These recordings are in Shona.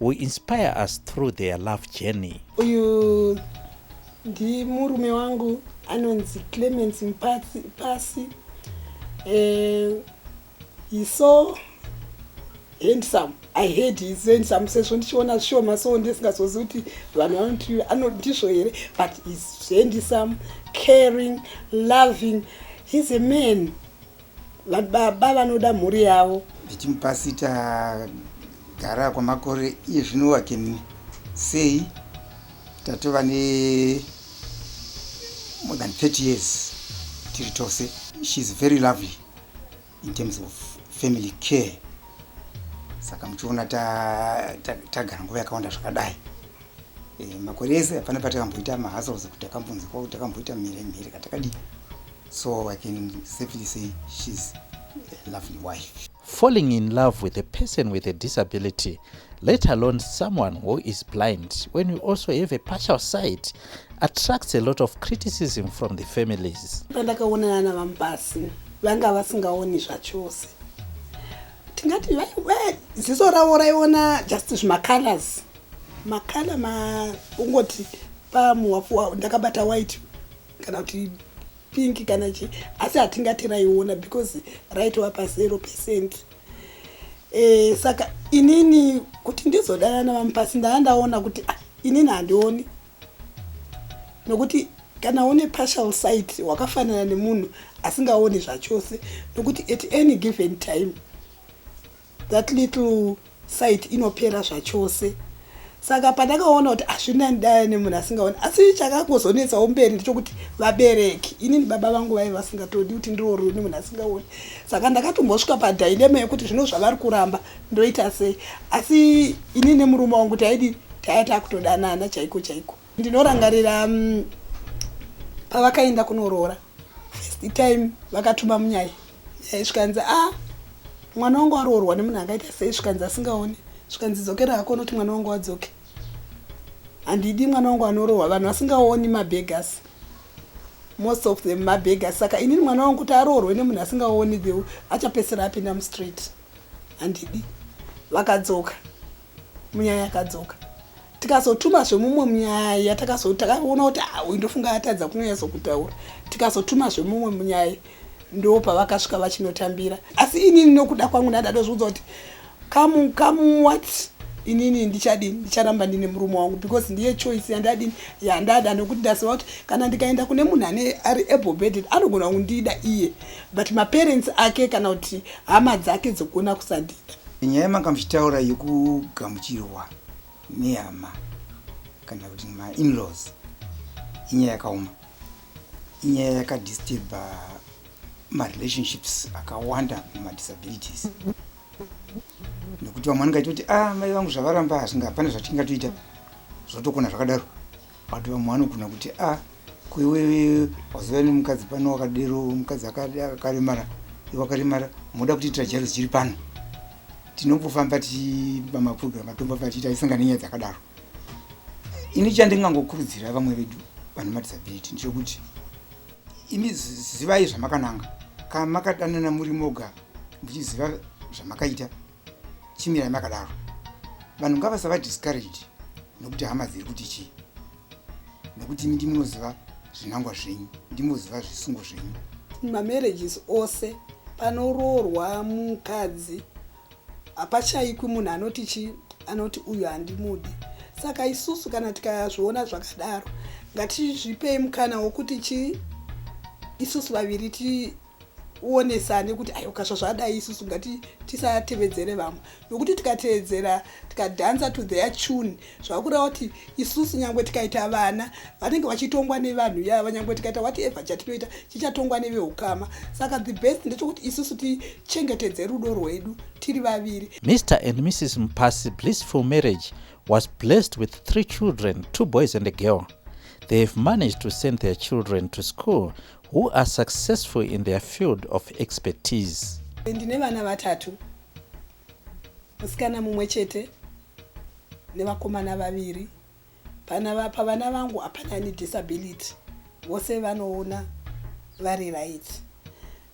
Who inspire us through their love journey. Uyu ndimurume wangu anonzi Clemens Mpasi, Mpasi. Eh, he's so handsome i heard he's handsome sezvo ndichiona zvishoma so ndisingazozi kuti vanhu vanoti ndizvo here but he's handsome caring loving he's a man Baba vanoda mhuri yavo. Ndichimupasita gara kwamakore iye zvino wakeni sei tatova ne more than 30 years tiri tose. She is very lovely in terms of family care saka muchiona tagara nguva yakawanda zvakadai eh, makore ese hapana patakamboita mahasels kuti takambonzi kwao takamboita mhere mhere katakadii so i can safely say she's a lovely wife falling in love with a person with a disability let alone someone who is blind when you also have a partial sight attracts a lot of criticism from the families pandakaonana navamubasi vanga vasingaoni zvachose tingati ziso ravo raiona just zvimacolors makala ma ungoti pamuwafuwa ndakabata white kana kuti pink kana chi asi hatingati raiona because raitova pazero percent e, saka inini kuti ndizodanana vamupasi ndava ndaona kuti ah, inini handioni nokuti kana une partial sight wakafanana nemunhu asingaoni zvachose nokuti at any given time That little site inopera zvachose saka pandakaona kuti hazvina ndaya nemunhu asingaoni asi chakangozonetsawo mberi ndechokuti vabereki inini baba vangu vaive vasingatodi kuti ndiroorwe nemunhu asingaoni saka ndakatombosvika padailema yekuti zvino zvavari kuramba ndoita sei asi inini nemurume wangu taidi taya takutodanana chaiko chaiko ndinorangarira mm, pavakaenda kunoroora first time vakatuma munyaya Eh, zvikanzi a ah, mwana wangu aroorwa nemunhu akaita sei zvikanzi asingaone zvikanzi dzokera hako unoti mwana wangu wadzoke handidi mwana wangu anorohwa vanhu vasingaoni mabegas most of them mabegas saka inini mwana wangu kuti aroorwe nemunhu asingaoni the achapesera apinda mustreet handidi vakadzoka munyaya yakadzoka tikazotuma zvemumwe munyaya takazo takaona kuti ah, uyu ndofunga atadza kunonyatso kutaura tikazotuma zvemumwe munyaya ndo pavakasvika vachinotambira asi inini nokuda kwangu ndandadozviudza kuti kamu kamu what inini ndichadini ndicharamba ndine murume wangu because ndiye choice yandadini yandada nokuti ndaziva kuti kana ndikaenda kune munhu ane ari able beded anogona kundida iye but maparents ake kana kuti hama dzake dzogona kusandida nyaya yemanga muchitaura yekugamuchirwa nehama kana kuti mainlaws inyaya yakaoma inyaya yakadisturba marelationships akawanda mumadisabilities nekuti vamwe vangaita kuti a ah, mai vangu zvavaramba hazvinga hapana zvatingatoita zvotokona zvakadaro But vamwe vanogona kuti a ah, kwewewe wazoya nemukadzi pano wakadero mukadzi akaremara iwe akaremara moda kutiitira jaro zichiri pano tinombofamba tichiba maprogram atombofamba tichiita isinga nenyaya dzakadaro ini chandingangokurudzira vamwe vedu vane madisability ndechekuti imi zivai zvamakananga kana makadanana muri moga muchiziva zvamakaita chimirai makadaro vanhu ngavasava discouraged nekuti hama dziri kuti chii nekuti imi ndimunoziva zvinangwa zvenyu ndimoziva zvisungo zvenyu mamarriages ose panoroorwa mukadzi hapashaikwi munhu anoti chii anoti uyu handimudi saka isusu kana tikazviona zvakadaro ngatizvipei mukana wokuti chii isusu vaviri ti uonesane kuti ayi ukasva zvadai isusu ngati tisatevedzere vamwe nokuti tikatevedzera tikadanza to their tune zvakureva kuti isusu nyangwe tikaita vana vanenge vachitongwa nevanhu yava nyangwe tikaita wati ever chatinoita chichatongwa neveukama saka the best ndechokuti isusu tichengetedze rudo rwedu tiri vaviri mr and mrs mupasi blissful marriage was blessed with three children two boys and a girl they have managed to send their children to school who are successful in their field of expertise. Ndine vana vatatu, musikana mumwe chete nevakomana vaviri. Pavana vangu hapana ane disability, vose vanoona vari right.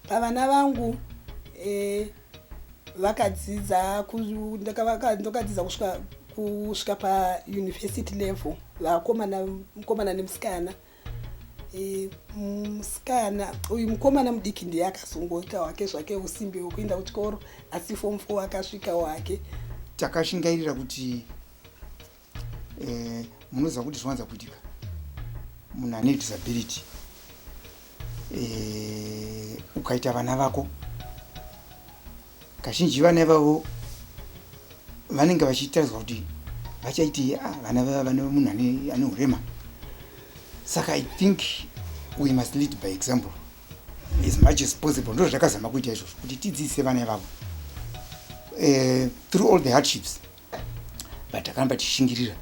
Pavana vangu eh, vakadzidza ndokadzidza kusvika kusvika pauniversity level vakomana mukomana nemusikana Eh, musikana uyu mukomana mudiki ndiye akazongoita wake zvake usimbe wekuenda kuchikoro asi fom fo akasvika wake takashingairira kuti eh, munoziva kuti zvinowanza kuitika munhu ane disability eh, ukaita vana vako Kazhinji vana ivavo vanenge vachitaridzwa kuti vachaitii ah, vana vava vane munhu ane urema saka i think we must lead by example as much as possible ndo zvakazama kuita izvozvo kuti tidzidzise vana ivavo uh, through all the hardships but takaramba tichishingirira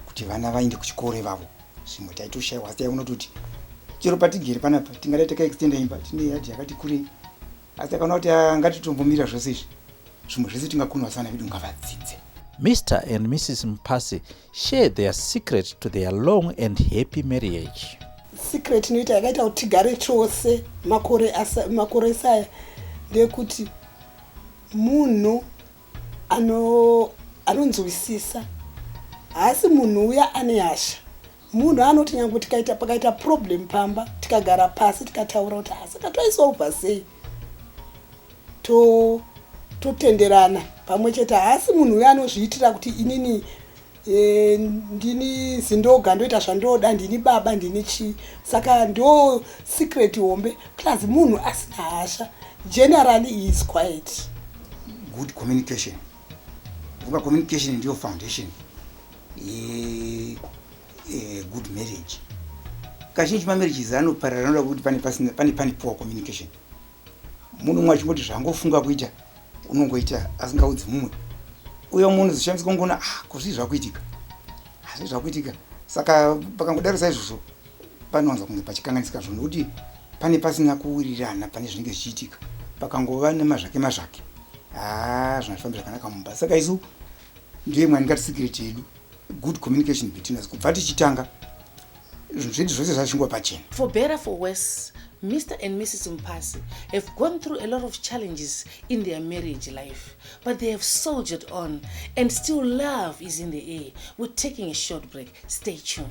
kuti vana vaende kuchikoro ivavo zvimwe taitoshaiwa asi taiona kuti chero patigere panapa tingadai takaextenda imba tine yadhi yakati kurei asi akaona kuti ah, ngatitombomira zvose izvi zvimwe zvese tingakunwa sana vedu ngavadzidze mr and mrs mpasi share their secret to their long and happy marriage secret inoita yakaita kuti tigare chose makore makore saya ndeyekuti munhu anonzwisisa haasi munhu uya ane hasha Munhu anoti nyange tikaita pakaita problem pamba tikagara pasi tikataura kuti ha saka toisolva sei to totenderana pamwe chete haasi munhu uyo anozviitira kuti inini e, ndini zindoga ndoita zvandoda ndini baba ndini chii saka ndo secret hombe plus munhu asina hasha generally he is quiet good communication vuka communication ndiyo foundation e, e, good marriage kazhinji mamarriages anoparara anoda kuti pane pasina pane pane poor communication munhu umwe achingoti zvangofunga kuita unongoita asingaudzi mumwe uye umwe unozoshandisa kungoona ah kuzvii zvakuitika hazvii zvakuitika saka pakangodaro saizvozvo panowanza kunge pachikanganisika zvo nokuti pane pasina kuwirirana pane zvinenge zvichiitika pakangova nemazvake mazvake haa ah, zvinazvifambi zvakanaka mumba saka isu ndiye mwani ngati secret yedu good communication between us kubva tichitanga zvinhu zvose zvachingwa pachena for better for worse Mr. and Mrs. Mpasi have gone through a lot of challenges in their marriage life, but they have soldiered on and still love is in the air. We're taking a short break. Stay tuned.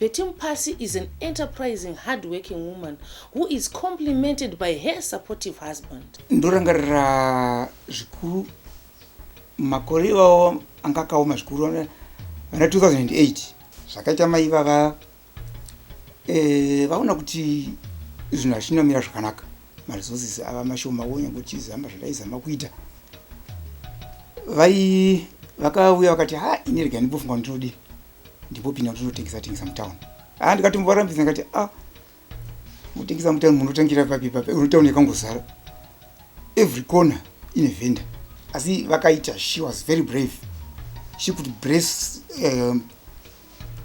Betty Mupasi is an enterprising, hardworking woman who is complimented by her supportive husband. Ndorangarira zvikuru makore iwawo anga akaoma zvikuru vana 2008 zvakaita mai vava eh, vaona kuti zvinhu hazvina mira zvakanaka maresources ava mashoma wonya kuti zama zvataizama kuita vai vakauya vakati ha ini rega ndibofunga kuti ndinodii ndipo pinda ndinotengesa tengesa mutown ah ndikatomborambisa ndikati ah mutengesa mutown munotangira papi papi unotown yakangozara every corner ine vendor asi vakaita she was very brave she could brace um,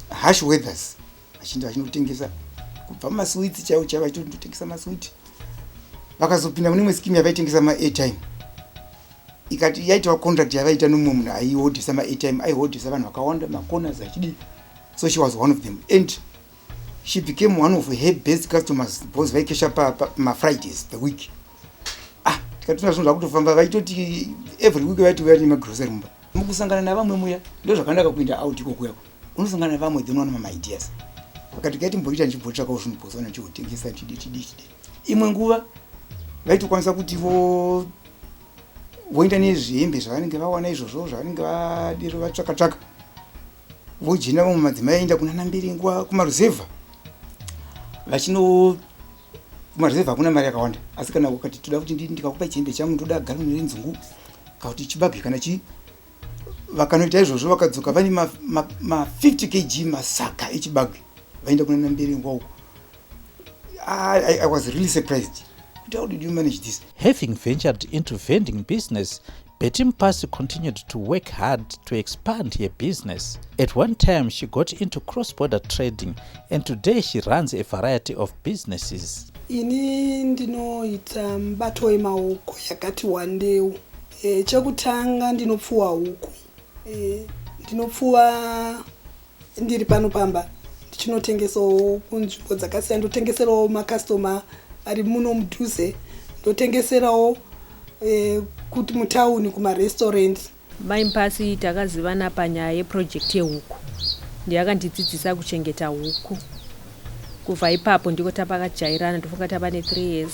harsh weathers achinda achinotengesa kubva maswits chaiwo chaivo achitotengesa maswit vakazopinda mune imwe skimu yavaitengesa maairtime ikati yaitawo contract yavaita nomumwe munhu aihodhesa maatime aihodhesa vanhu vakawanda macorners achidii so she was one of them and she became one of her best customers because vaikesha pamafridays the week ah tikatona zvinhu zvakutofamba vaitoti every week vaiti vaya nemagrocery mumba mukusangana navamwe muya ndo zvakanaka kuenda out ikokuyako unosangana navamwe then wana mamaideas vakati kaiti mboita ndichimbotsvakawo zvinhu bhosa ndichihotengesa tidi tidi tidi imwe nguva vaitokwanisa kuti vo voenda nezvihembe zvavanenge vawana izvozvo zvavanenge vadiro vatsvaka tsvaka vojenda vamwe madzimai aenda kunana mbiringwa kumaruzevha vachino kumaruzevha hakuna mari yakawanda asi kana ukati toda kuti ndikakupa chihembe changu ndoda gara mune nzungu kakuti chibage kana chii vakanoita izvozvo vakadzoka vane ma, ma, ma 50 kg masaka echibage vaenda kuna nambere wow I, I, i was really surprised kuti how did you manage this having ventured into vending business Betty Mpasi continued to work hard to expand her business. At one time, she got into cross-border trading and today she runs a variety of businesses. Ini ndinoita mubato wemaoko yakati wandeu E, chekutanga ndinopfuwa huku e, ndinopfuwa ndiri pano pamba ndichinotengesawo kunzvimbo dzakasiyana ndotengeserawo makastoma ari muno mudhuze ndotengeserawo e, kuti mutauni kumarestaurant mai mpasi takazivana panyaya yeprojekti yehuku ndiye akandidzidzisa kuchengeta huku kubva ipapo ndiko tapakajairana ndofunga tava ne3 years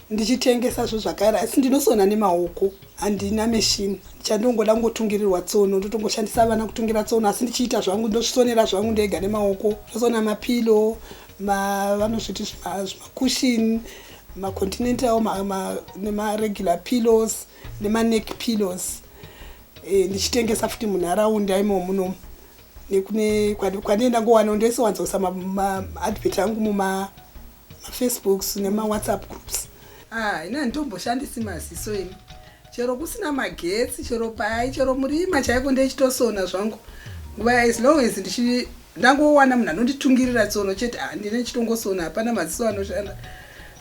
ndichitengesa zvo zvakare asi ndinosona nemaoko handina meshini chandongoda kungotungirirwa tsono ndotongoshandisa vana kutungira tsono asi ndichiita zvangu ndosonera zvangu ndega nemaoko ndosona mapilo vanozviti zvimakushini macontinental nemaregular pillows nemaneck pillows e, ndichitengesa futi munharaunda imo muno nekune kwandinoenda ngowana ndoisowanzoisa maadvert angu muma mafacebooks nemawhatsapp groups ah, ini handitomboshandisi maziso ini chero kusina magetsi chero pai chero murima chaiko ndechitosona zvangu nguva as long as ndichi ndangowana munhu anonditungirira tsono chete ah, ndine chitongosona hapana maziso anoshanda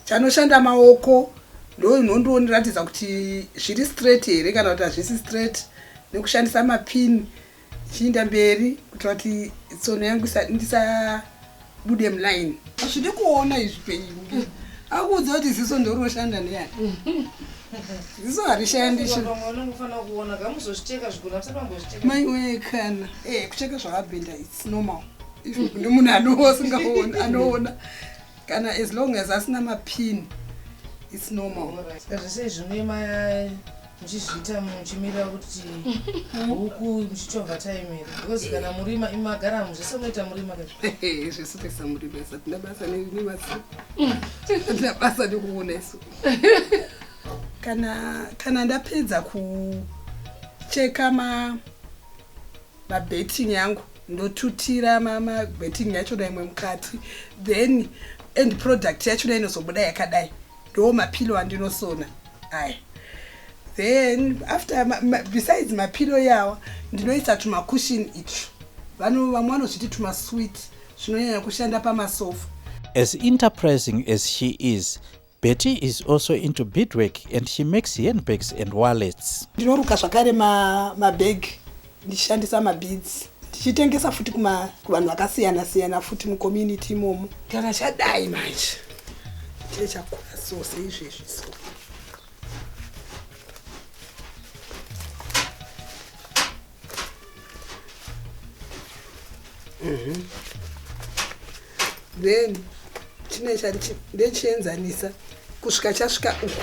chanoshanda maoko ndoinondondiratidza kuti zviri straight here kana kuti hazvisi straight nekushandisa mapini Chiinda mberi kuti vati tsono yangu ndisabude muline. Hazvidi kuona izvi penyu. Akuudza kuti ziso ndoroshanda neyani. Ziso harishandi shu. Mai wee kana. Eh kucheka zvakabhenda it's normal. Izvo kune munhu anoona anoona. Kana as long as asina mapin it's normal. Zvese izvi zvine muchizviita muchimirira kuti huku muchichovha time here because kana murima imagara muzvese munoita murima zvesu taisa murima isa tina basa nerima tina basa nekuona isu kana kana ndapedza kucheka ma mabetting yangu ndotutira mabetting yacho daimwe mukati then end product yacho dai inozobuda yakadai ndo mapillow andinosona aya then after ma, ma, besides mapillow yawa ndinoisa tumacushini itwo vamwe vanozviti tumasweet zvinonyanya kushanda pamasofa as enterprising as she is betty is also into beadwork and she makes handbags and wallets ndinoruka zvakare mabag ma ndichishandisa mabeads ndichitengesa futi kuma kuvanhu vakasiyana siyana futi mucommunity imomo kana chadai manje chee chakura so seizvezvi so mhm. then chine chandechienzanisa kusvika chasvika uku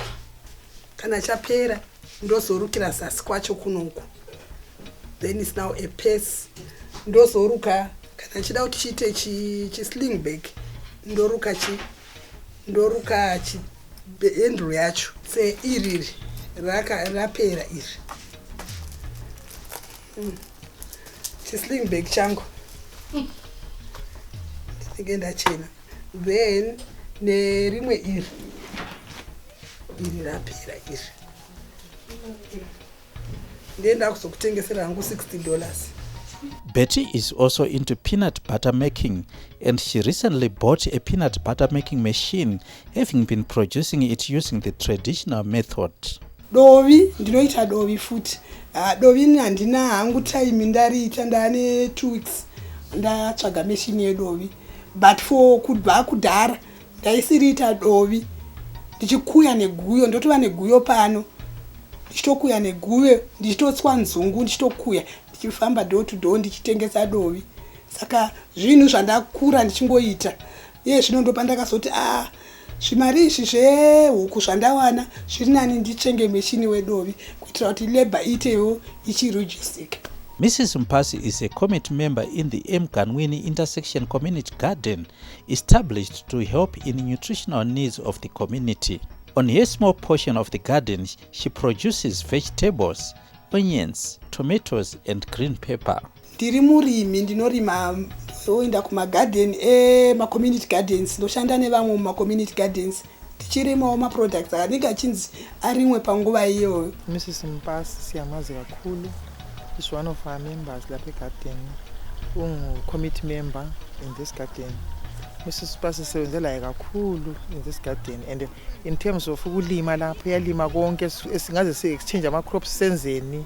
kana chapera ndozorukira zasi kwacho kunoku then is now a pace ndozoruka kana chida kuti chiite chisling bag ndoruka chi ndoruka chi handle yacho se iriri rapera iri hmm. chisling bag changu ndinenge ndachena then nerimwe iri iri rapera iri ndiye ndakuzokutengesera hangu 60 dollars Betty is also into peanut butter making and she recently bought a peanut butter making machine having been producing it using the traditional method. Dovi, ndinoita dovi futi. Uh, dovi ni handina hangu time ndariita ndane 2 weeks ndatsvaga machine yedovi. but for kubva kudhara ndaisiriita dovi ndichikuya neguyo ndotova neguyo pano ndichitokuya neguyo ndichitotswa nzungu ndichitokuya ndichifamba door to door ndichitengesa dovi saka zvinhu zvandakura ndichingoita iye zvino ndopandakazoti a ah, Zvimari izvi zvehuku zvandawana zviri nani nditenge meshini wedovi kuitira kuti labour iitewo ichirujisika. Mrs Mpasi is a committee member in the Emganwini Intersection Community Garden established to help in nutritional needs of the community. On her small portion of the garden, she produces vegetables, onions, tomatoes and green pepper. Ndiri murimi ndinorima ndoenda kumagarden emacommunity gardens ndoshanda nevamwe mumacommunity gardens tichirimawo maproducts akanenge achinzi arimwe panguva iyoyo mrs mupasi siyamazi kakhulu is one of our members lape garden ungcommittee member in this garden mrs pasi sisebenzelayo kakhulu in this garden and in terms of ukulima lapho yalima konke singaze si-exchange amacrops senzeni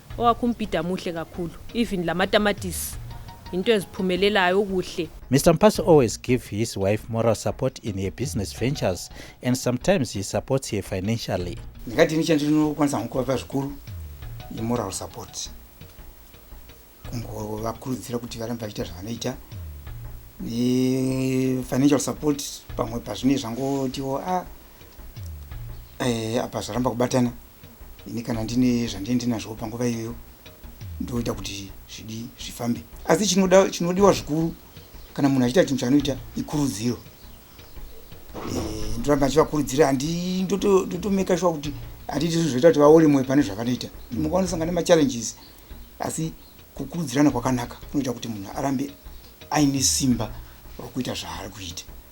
Owakumbhida muhle kakhulu even lamatamatisi yinto eziphumelelayo kuhle. Mister Mpasi always give his wife moral support in her business ventures and sometimes he supports her financially. Ndingadini chandinokwanisa hangu kuvapa zvikuru imoral support kungovakurudzira kuti varambe vachiita zvavanoita nefinancial support pamwe pazvinei zvangotiwo a ah, eh, apa zvaramba kubatana ini kana ndine zvandine ndinazvo panguva iyoyo ndoita kuti zvidi zvifambe asi chinoda chinodiwa zvikuru kana munhu achiita chinhu chaanoita ikurudziro eh, ndoramba achivakurudzira handi ndotomeka shuwa kuti hatiiti zvinhu zvoita kuti vaore mwoyo pane zvavanoita munguva unosangana nemachallenges asi kukurudzirana kwakanaka kunoita kuti munhu arambe aine simba rokuita zvaari kuita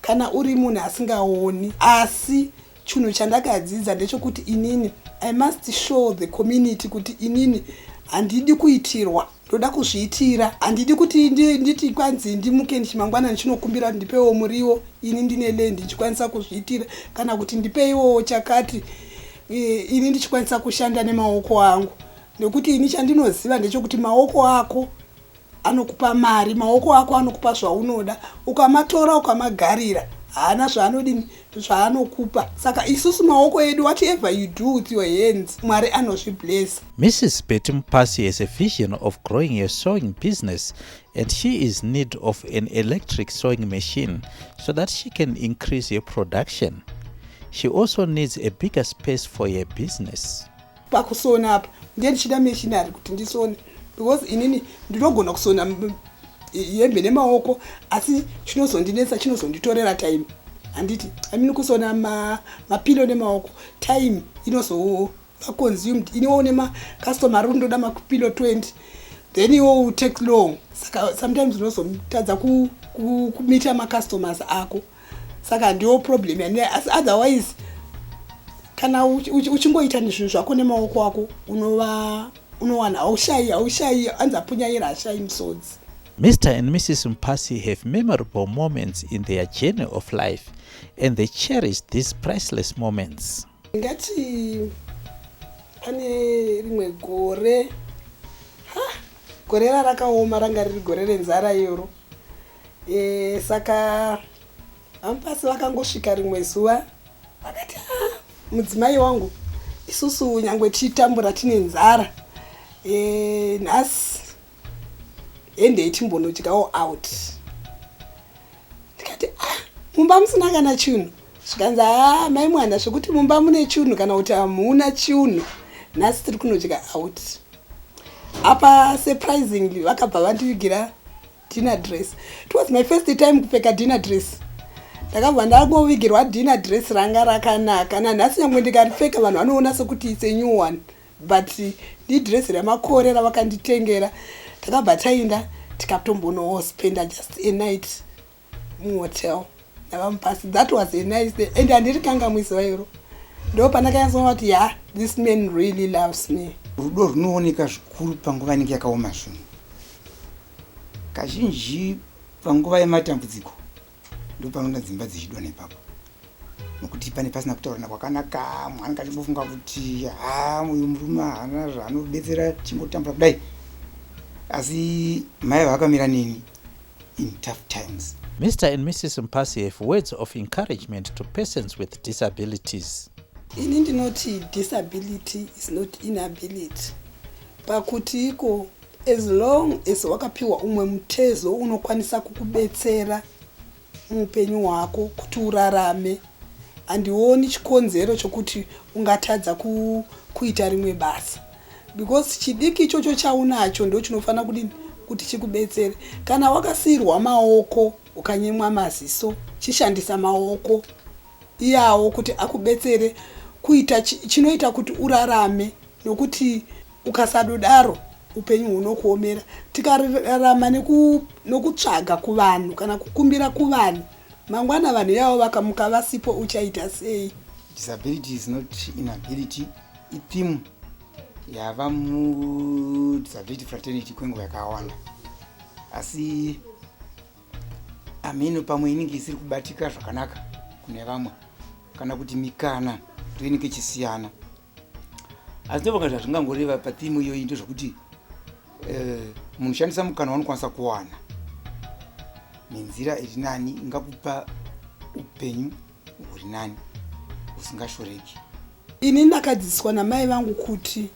Kana uri munhu asingaoni asi chunhu chandakadzidza ndechokuti inini I must show the community kuti inini handidi kuitirwa ndoda kuzviitira handidi kuti nditi kwanzi ndimuke ndichimangwana ndichinokumbira kuti ndipewo muriwo ini ndine lendi ndichikwanisa kuzviitira kana kuti ndipeiwo chakati e, ini ndichikwanisa kushanda nemaoko angu nekuti ini chandinoziva ndechokuti maoko ako anokupa mari maoko ako anokupa zvaunoda ukamatora ukamagarira haana zvaanodi zvaanokupa saka isusu maoko edu whatever you do with your hands mwari anozviblesa mrs betty mupasi has a vision of growing a sewing business and she is need of an electric sewing machine so that she can increase her production she also needs a bigger space for her business pakusona apa ndiye ndichida meshinari kuti ndisone because inini ndinogona kusona hembe nemaoko asi chinozondinetsa chinozonditorera time handiti imean kusona mapilo ma nemaoko time inozova consumed iniwo une macustomar uri ndoda mapilo 20 then iwo will take long saka sometimes unozotadza kumita macustomers ako saka ndiwo problem yandinayo asi otherwise kana uchingoita nezvinhu zvako nemaoko ako unova unowana haushayi haushayi hanzi apunyaira hashayi musodzi mr and mrs mpasi have memorable moments in their journey of life and they cherish these priceless moments ngati pane rimwe gore ha gore rarakaoma ranga riri gore renzara iyoro Eh, saka amupasi vakangosvika rimwe zuva vakati ah, mudzimai wangu isusu nyangwe tichitambura tine nzara eh, nhasi hendei timbonodyawo out ndikati ah, mumba musina kana chinhu zvikanzi haa ah, mai mwana zvekuti mumba mune chinhu kana kuti hamuna chinhu nhasi tiri kunodya out apa surprisingly vakabva vandivigira dinner dress it was my first time kupfeka dinner dress ndakabva ndangovigirwa dinner dress ranga rakanaka nanhasi nyangwe ndikaripfeka vanhu vanoona sekuti its a new one but ndidress remakore ravakanditengera takabva tainda tikatombonowo spenda just a night muhotel navamupasi that was a nice day and handiri kanga muziva iro ndo pandakanyatsoona kuti ya this man really loves me rudo rwunooneka zvikuru panguva inenge yakaoma zvinhu Kazhinji panguva yematambudziko ndopanoona dzimba dzichidona ipapo nokuti pane pasina kutaurana kwakanaka mnhu anenge achingofunga kuti ha uyu murume haana zvaanobetsera chingotambura kudai asi mai vakamira neni in tough times mr and mrs mpasi have words of encouragement to persons with disabilities ini ndinoti disability is not inability pakuti iko As long as wakapiwa umwe mutezo unokwanisa kukubetsera muupenyu hwako kuti urarame handioni chikonzero chokuti ungatadza ku, kuita rimwe basa because chidiki ichocho chaunacho ndo chinofanira kudii kuti chikubetsere kana wakasiirwa maoko ukanyemwa maziso chishandisa maoko iyawo kuti akubetsere kuita chinoita kuti urarame nokuti ukasadodaro upenyu hunokuomera tikararama nokutsvaga kuvanhu kana kukumbira kuvanhu mangwana vanhu yavo vakamuka vasipo uchaita sei disability is not inability itheme yava mudisability fraternity kwenguva yakawanda asi ameno pamwe inenge isiri kubatika zvakanaka kune vamwe kana kuti mikana ndoinenge ichisiyana asi ndovanga zvazvingangoreva patimu iyoyi ndezvekuti eh, munhu shandisa mukana wanokwanisa kuwana nenzira iri nani ingakupa upenyu huri nani usingashoreki ini ndakadzidziswa namai vangu kuti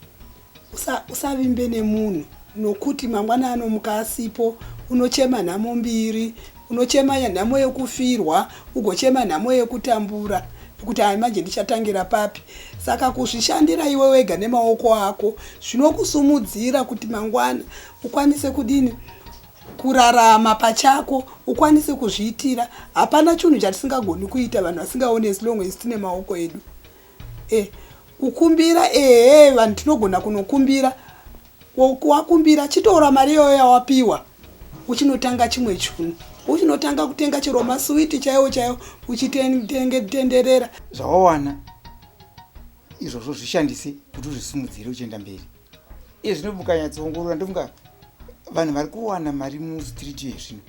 usavimbe usa nemunhu nokuti mangwana anomuka asipo unochema nhamo mbiri Unochema nhamo yekufirwa, ugochema nhamo yekutambura kuti ayi manje ndichatangira papi. Saka kuzvishandira iwe wega nemaoko ako zvinokusimudzira kuti mangwana ukwanise kudini? Kurarama pachako, ukwanise kuzviitira. Hapana chinhu chatisingagoni kuita vanhu vasingaone as long as tine maoko edu. Eh, kukumbira ehe vanhu tinogona kunokumbira. Wakumbira chitora mari iyoyo yawapiwa. uchinotanga chimwe chunhu uchinotanga kutenga chero masuwiti chaiwo chaiwo uchitenderera zvawawana izvozvo zvishandise kuti uzvisimudzire uchienda mberi iye zvino mukanyatsoongorora ndofunga vanhu vari kuwana mari mustreet yezvino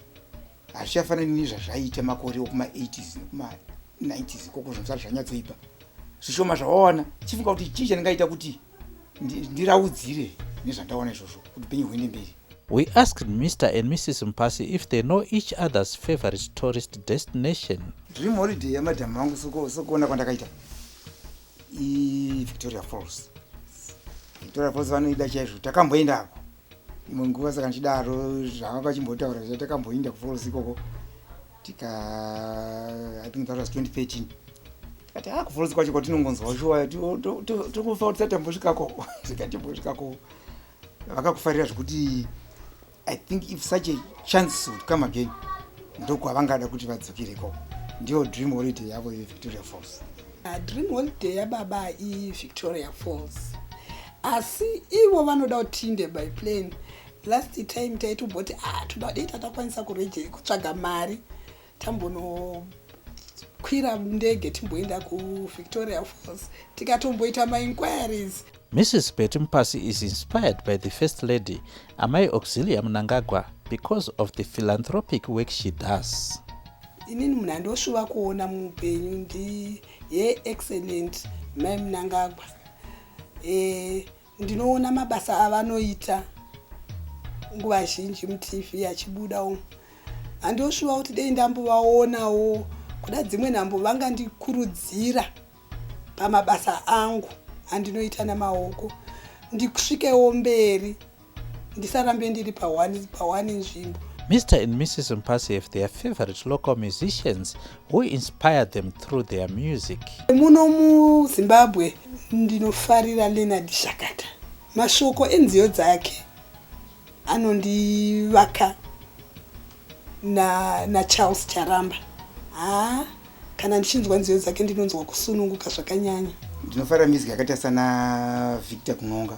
hazvichafanani nezvazvaiita makore okuma80s nekuma90s koko zvinosati zvanyatsoipa zvishoma zvawawana chifunga kuti chii chandingaita kuti ndiraudzire nezvandaona izvozvo kuti penyu huende mberi We asked Mr and Mrs Mpasi if they know each other's favorite tourist destination. Dream holiday ya madam wangu soko sokuona kwandakaita. I Victoria Falls. Victoria Falls vanoida chaizvo takamboenda hapo. Imwe nguva saka ndichidaro zvavakachimbotaura zvacho takamboenda ku Falls ikoko. tika i think that was 2013 kati ah kuforos kwacho kwatinongonzwa shuwa tokufa kuti satambosvikako zikatimbosvikako vakakufarira zvekuti i think if such a chance would come again ndokwavangada kuti vadzokireko ndiyo dream holiday yavo yevictoria falls ah, dream holiday yababa ivictoria falls asi ivo vanoda kuti tiinde by plane last time taitomboti a ah, toda dei tatakwanisa kureje kutsvaga mari tambonokwira ndege timboenda kuvictoria falls tikatomboita mainquiries mrs betty mupasi is inspired by the first lady amai auxilia munangagwa because of the philanthropic work she does inini munhu andoshuva kuona muupenyu ndi ye excellent mai munangagwa e, Ndinoona mabasa avanoita nguva zhinji mutv achibuda umu handoshuva kuti dei ndambovaonawo kuda dzimwe nhambo vangandikurudzira pamabasa angu andinoita namaoko ndikusvikewo mberi ndisarambe ndiri pawani nzvimbo Mr and Mrs Mpasi have their favorite local musicians who inspire them through their music muno muzimbabwe ndinofarira leonard shakata mashoko enziyo dzake anondivaka nacharles na charamba haa kana ndichinzwa nziyo dzake ndinonzwa kusununguka zvakanyanya ndinofarira music yakaita sana victor kunonga